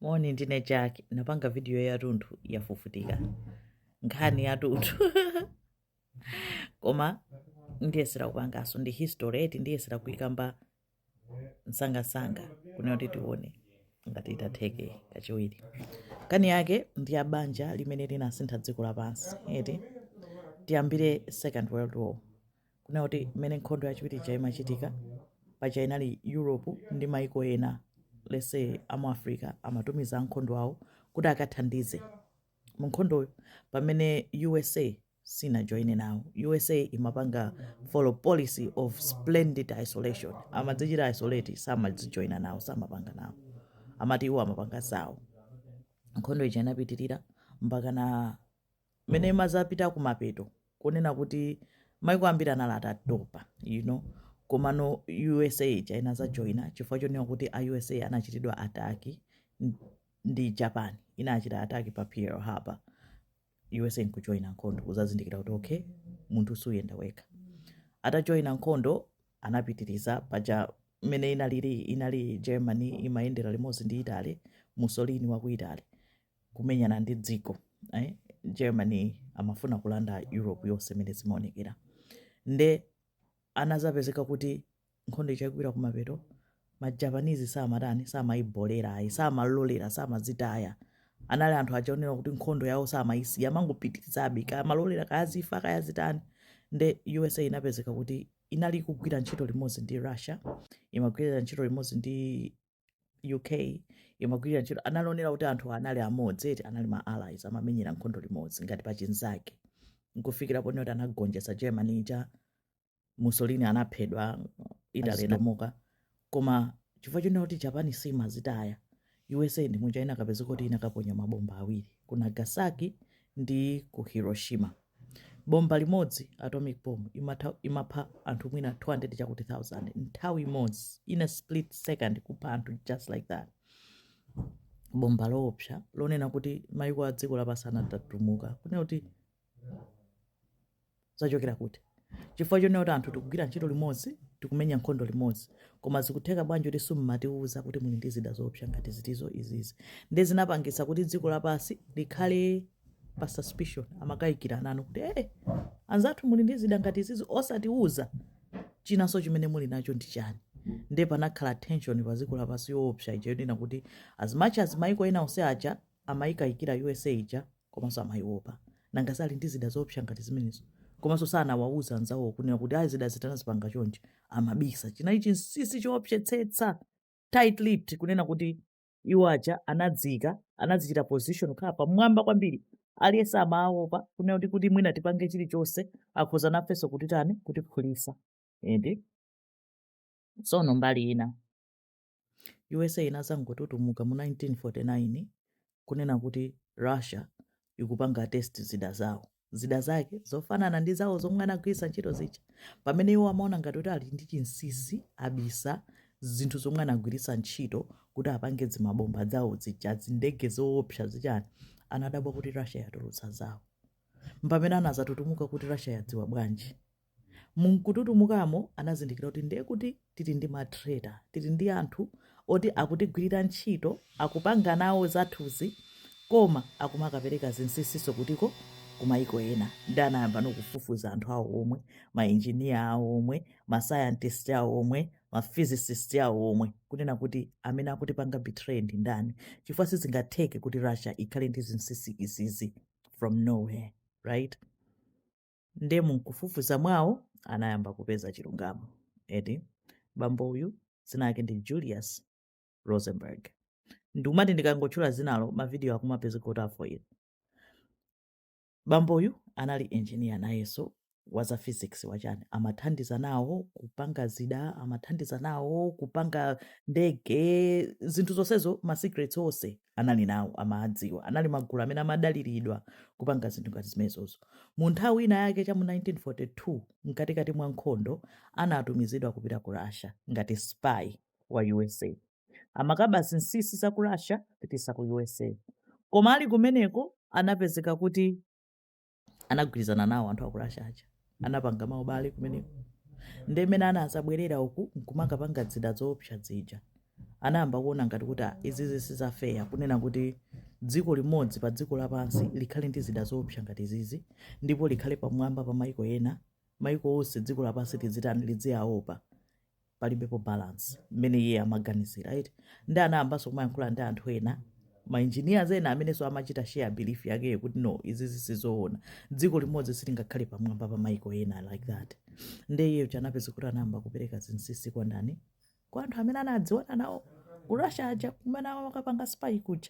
moni ndine jack napanga vidiyo yatunthu yafufutika nkhani yatunthu koma ndiyesera kupangaso ndi history eti ndiyesera kuikamba msangamsanga kunena kuti tione ngati itatheke kachiwiri nkhani yake ndi ya banja limene linasintha dziko lapansi eti tiyambire second world war kunena kuti mmene nkhondo yachiwiri ija imachitika paja inali europe ndi maiko ena lese amu africa amatumiza a nkhondo awo kuti akathandize mu nkhondoyo pamene usa sinajoine nawo usa imapanga follow policy of splendid isolation amadzichita isolate samadzijoina nawo samapanga nawo amati iwo amapanga zawo nkhondo ija inapitirira mpaka na mmene imazapita kumapeto kunena kuti maiko ambiri anali atatopa you know komano usa ija inazajoina chifukwa chonena kuti a usa anachitidwa attack n- ndi japan inachita attack pa pearl harbor usa nkujoina nkhondo uzazindikira kuti okay munthu suyenda wekha atajoina nkhondo anapitiriza paja mmene inalili inali germany imayendera limodzi ndi italy mussolini wa ku italy kumenyana ndi dziko eh? germany amafuna kulanda europe yonse mmene zimaonekera nde anazapezeka kuti nkhondo ija ifika kumapeto ma japanese samatani samayibolera ayi samalolera samazitaya anali anthu achaonera kuti nkhondo yawo samayisiya amangopitirizabe kaya amalolera kaya zifa kaya zitani nde usa inapezeka kuti inali ikugwira ntchito limodzi ndi russia imagwira ntchito limodzi ndi uk imagwira ntchito analonera kuti anthu anali amodzi eti anali ma allies amamenyera nkhondo limodzi ngati pachinzake nkufikira ponena kuti anagonjetsa germany ija mussolini anaphedwa italy inamuka koma chifukwa chonena kuti japan simazitaya usa ndi muja inakapezeka kuti inakaponya mabomba awiri ku nagasaki ndi ku hiroshima Bomba limodzi, atomic bomb, imapha anthu mwina 200 chakuti 1000 nthawi imodzi in a split second kupha anthu just like that bomba loopsa lonena kuti maiko a dziko lapansi anatutumuka kunena kuti zachokera kuti chifukwa chonena kuti anthu tikugwira ntchito limodzi tikumenya nkhondo limodzi koma zikutheka bwanji kuti simumatiuza kuti muli ndi zida zoopsa ngati izizi ndi zinapangitsa kuti dziko lapansi likhale pa suspicion amakayikirana kuti ee anzathu muli ndi zida ngati izizi osatiuza chinanso chimene muli nacho ndi chani nde panakhala tension pa dziko lapansi yoopsa ija yonena kuti as much as maiko ena onse aja amayikayikira usa ija komanso amayiwopa nanga sali ndi zida zoopsa ngati zimenezo komanso sanawauza anzawo kunena kuti ayi zida izi tinazipanga chonje amabisa chinali chinsinsi choopsetsetsa tight lipped kunena kuti Iwo aja anadziika, anadzichita position kukhala pamwamba kwambiri. Aliyense amaopa kunena kuti kuti mwina tipange chilichonse akhoza nafenso kutitani kutiphulisa. Eti tsono mbali ina USA inazangotutumuka mu 1949 kunena kuti Russia ikupanga test zida zawo zida zake zofanana ndi zawo zomwe anagwiritsa ntchito zija pamene iwo amaona ngati kuti ali ndi chinsinsi abisa zinthu zomwe anagwiritsa ntchito kuti apange dzimabomba dzawo zija zindege zoopsa zichani anadabwa kuti russia yatulutsa zawo mpamene anazatutumuka kuti russia yadziwa bwanji Mumkututumukamo anazindikira kuti ndiye kuti tili ndi ma traitor, tili ndi anthu oti akutigwirira ntchito, akupanga nawo zathuzi koma akumakapereka zinsinsinso kutiko? Ku maiko ena. Ndiye anayambano kufufuza anthu awo omwe, ma engineer awo omwe, ma scientist awo omwe, ma physicist awo omwe kunena kuti amene akutipanga betray ndi ndani chifukwa sizingatheke kuti Russia ikhale ndi zinsinsi izizi from nowhere, right? nde munkufufuza mwawo anayamba kupeza chilungamo eti bambo uyu dzina yake ndi julius rosenberg ndikumati ndikangotchula dzinalo mavidiyo akumapezeka kuti afoira bambo uyu anali engineer nayenso wa za physics wachani amathandiza nawo kupanga zida amathandiza nawo kupanga ndege zinthu zonsezo ma secrets onse anali nawo amaadziwa anali magulu amene amadaliridwa kupanga zinthu ngati zimenezozo mu nthawi ina yake cha mu 1942 mkatikati mwa nkhondo anatumizidwa kupita ku russia ngati spy wa usa amakaba zinsinsi za ku russia kupititsa ku usa koma ali kumeneko anapezeka kuti anagwirizana nawo anthu aku russia aja anapanga maubale kumeneko nde mmene anazabwerera uku nkumakapanga dzida zoopsa zija anayamba kuona ngati kuti "Ah, izizi sizafeya kunena kuti dziko limodzi pa dziko lapansi likhale ndi zida zoopsa ngati izizi ndipo likhale pamwamba pa maiko ena maiko onse dziko lapansi lizitani lidziyaopa palibepo balance mmene iye amaganizira eti ndi anayambanso kumayankhula ndi anthu ena ma engineers ena amenenso amachita share belief yakeyo kuti no izi zisizoona dziko limodzi silingakhale pamwamba pa maiko ena like that nde iyeyo cha anapeza kuti anayamba kupereka zinsinsi kwa ndani kwa anthu amene anadziwana nawo ku russia aja kumene amakapanga spy kuja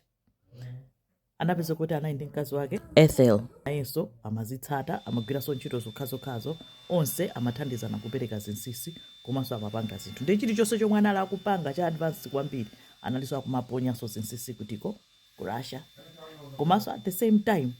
anapeza kuti anali ndi mkazi wake ethel nayenso amazitsata amagwiranso ntchito zokhazokhazo onse amathandizana kupereka zinsinsi komanso amapanga zinthu ndi chilichonse chomwe anali akupanga cha advance kwambiri analinso akumaponyanso zinsinsi kutiko ku russia komanso at the same time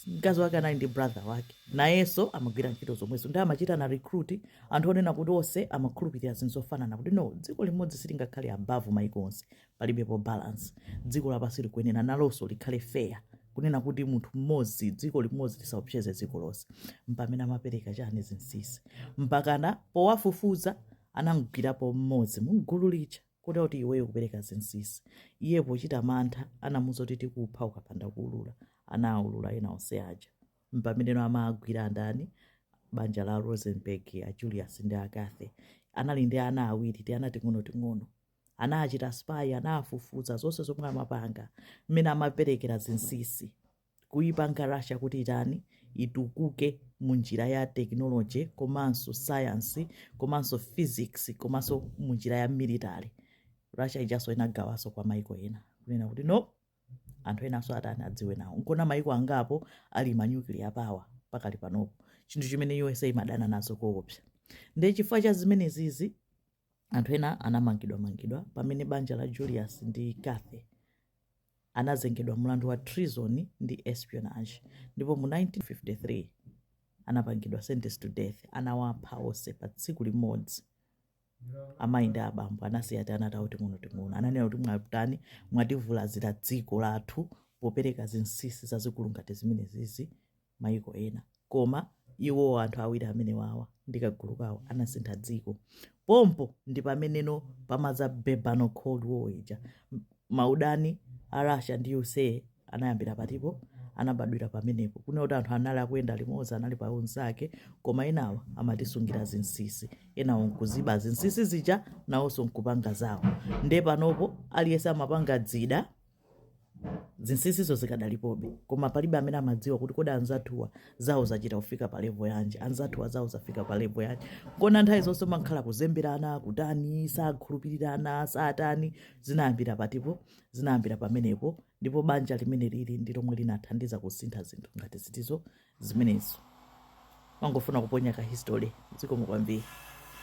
mkazi wake anali ndi brother wake nayenso amagwira ntchito zomwezo ndi amachitana recruit anthu onena kuti onse amakhulupirira zinthu zofanana kuti no dziko limodzi silingakhale above maiko onse palibepo balance dziko lapansi likuyenera nalonso likhale fair kunena kuti munthu mmodzi dziko limodzi lisaopseze dziko lonse mpamene amapereka chani zinsinsi mpakana powafufuza anamgwirapo mmodzi mugulu lija kuti iweyo kupereka zinsinsi iye pochita mantha anamuuza kuti tikupha ukapanda kuulula anaulula ena onse aja mpameneno amagwira ndani banja la rosenberg a julius ndi a kathy anali ndi ana awiri ti ana ting'ono ting'ono anachita spy anafufuza zonse zomwe amapanga mmene amaperekera zinsinsi kuipanga russia kuti itani itukuke mu njira ya technology komanso science komanso physics komanso mu njira ya military russia ijanso inagawanso kwa maiko ena kunena kuti no anthu enanso atani adziwe nawo nkona maiko angapo ali ma nuclear power pakali panopo chinthu chimene usa imadana nazo koopsa ndi chifukwa cha zimenezizi anthu ena anamangidwamangidwa pamene banja la Julius ndi Kathy anazengedwa mlandu wa treason ndi espionage ndipo mu 1953 anapangidwa sentence to death anawapha onse pa tsiku limodzi amayi ndi abambo anasiya ti anatawo ting'onoting'ono ananena kuti mwatani mwativulazira dziko lathu popereka zinsinsi zazikulu ngati zimenezizi mayiko ena. Koma, iwo, anthu awiri amenewawa, ndi kagulu kawo, anasintha dziko. Pompo ndi pameneno pamadza basi pano Cold War ija. Maudani a Russia ndi usa anayambira patipo, anabadwira pamenepo. Kunena kuti anthu anali akuyenda limodzi, anali pa unzake, koma enawa amatisungira zinsinsi. Enawo nkuziba zinsinsi zija, nawonso nkupanga zawo. Nde panopo, aliyense amapanga zida. zinsinsizo zikadalipobe koma palibe amene amadziwa kuti kodi anzathuwa zawo zachita kufika pa levo yanji anzathuwa zawo zafika pa levo yanji nkona nthawi zonse kumakhala kuzemberana kutani sakhulupirirana satani zinayambira patipo zinayambira pamenepo ndipo banja limeneli ndi lomwe linathandiza kusintha zinthu ngati zitizo zimenezo ndimangofuna kuponya ka history zikomo kwambiri